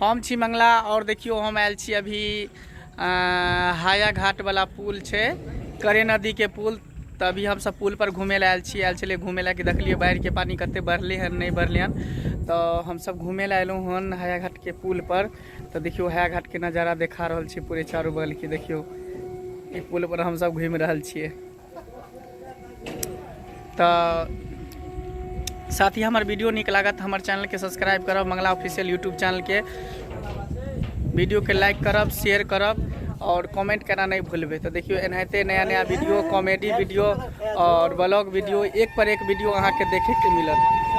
हम छी मंगला और देखियो हम आयल छी अभी हाया घाट वाला पुल छै करे नदी के पुल तऽ अभी हम सब पुल पर घूमे ला आयल छी आयल छलियै घूमे ला कि देखलियै बाढ़ि के पानी कते बढ़ले हन नहि बढ़ले हन तऽ हम सब घूमे ला एलहुँ हन हाया घाट के पुल पर तऽ देखियो हाया घाट के नजारा देखा रहल छी पूरे चारू बगल के देखियो ई पुल पर हम सब घूमि रहल छियै तऽ साथ ही हमार वीडियो निक लागत हमार चैनल के सब्सक्राइब करब मंगला ऑफिशियल यूट्यूब चैनल के वीडियो के लाइक करब शेयर करब और कमेंट करना नहीं भूलबे तो देखियो एनाहिते नया नया वीडियो कॉमेडी वीडियो और ब्लॉग वीडियो एक पर एक वीडियो अहाँ के देखे के मिलत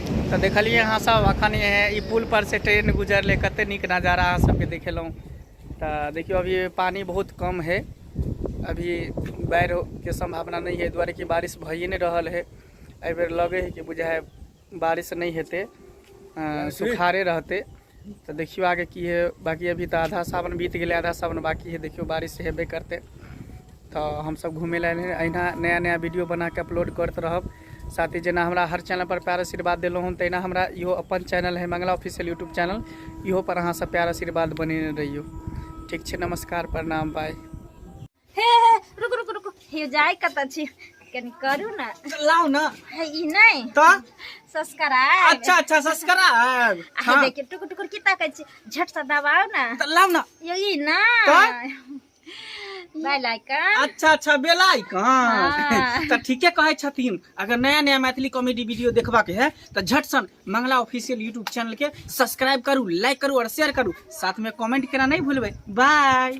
तऽ देखलियै अहाँ सब अखन ई पुल पर से ट्रेन गुजरले कते नीक नजारा अहाँ सबके देखेलहुँ तऽ देखियौ अभी पानि बहुत कम है अभी बाढ़िके सम्भावना नहि है दुआरे कि बारिश भइए नहि रहल है एहि बेर लगे है कि बुझाय बारिश नहि हेतै सुखारे रहतै तऽ देखियौ आगे की है बाकी अभी तऽ आधा सावन बीत गेलै आधा सावन बाकी है देखियौ बारिश हेबे करतै तऽ हमसब घूमे लए एलियै अहिना नया नया वीडियो बना के अपलोड करत रहब साथ ही जेना हमरा हर चैनल पर प्यार आशीर्वाद देलहुँ हन तहिना हमरा इहो अपन चैनल है मंगला ऑफिशियल यूट्यूब चैनल इहो पर अहाँ सब प्यार आशीर्वाद बनेने रहियौ ठीक छै नमस्कार प्रणाम बाय हे हे रुक रुक रुक हे जाय कतऽ छी कनी करू ने लाओ ना हे ई नहि तो सब्सक्राइब अच्छा अच्छा सब्सक्राइब आ हे देखियौ टुकुर टुकुर की ताकै छी झट से दबाउ ने तो लाओ ना यो ई ने बाय लाइकन अच्छा अच्छा बेला आइकन हाँ। तो ठीके कहे छथिन अगर नया नया मैथिली कॉमेडी वीडियो देखबा के है तो झट सन मंगला ऑफिशियल यूट्यूब चैनल के सब्सक्राइब करू लाइक करू और शेयर करू साथ में कमेंट करना नहीं भूलबे बाय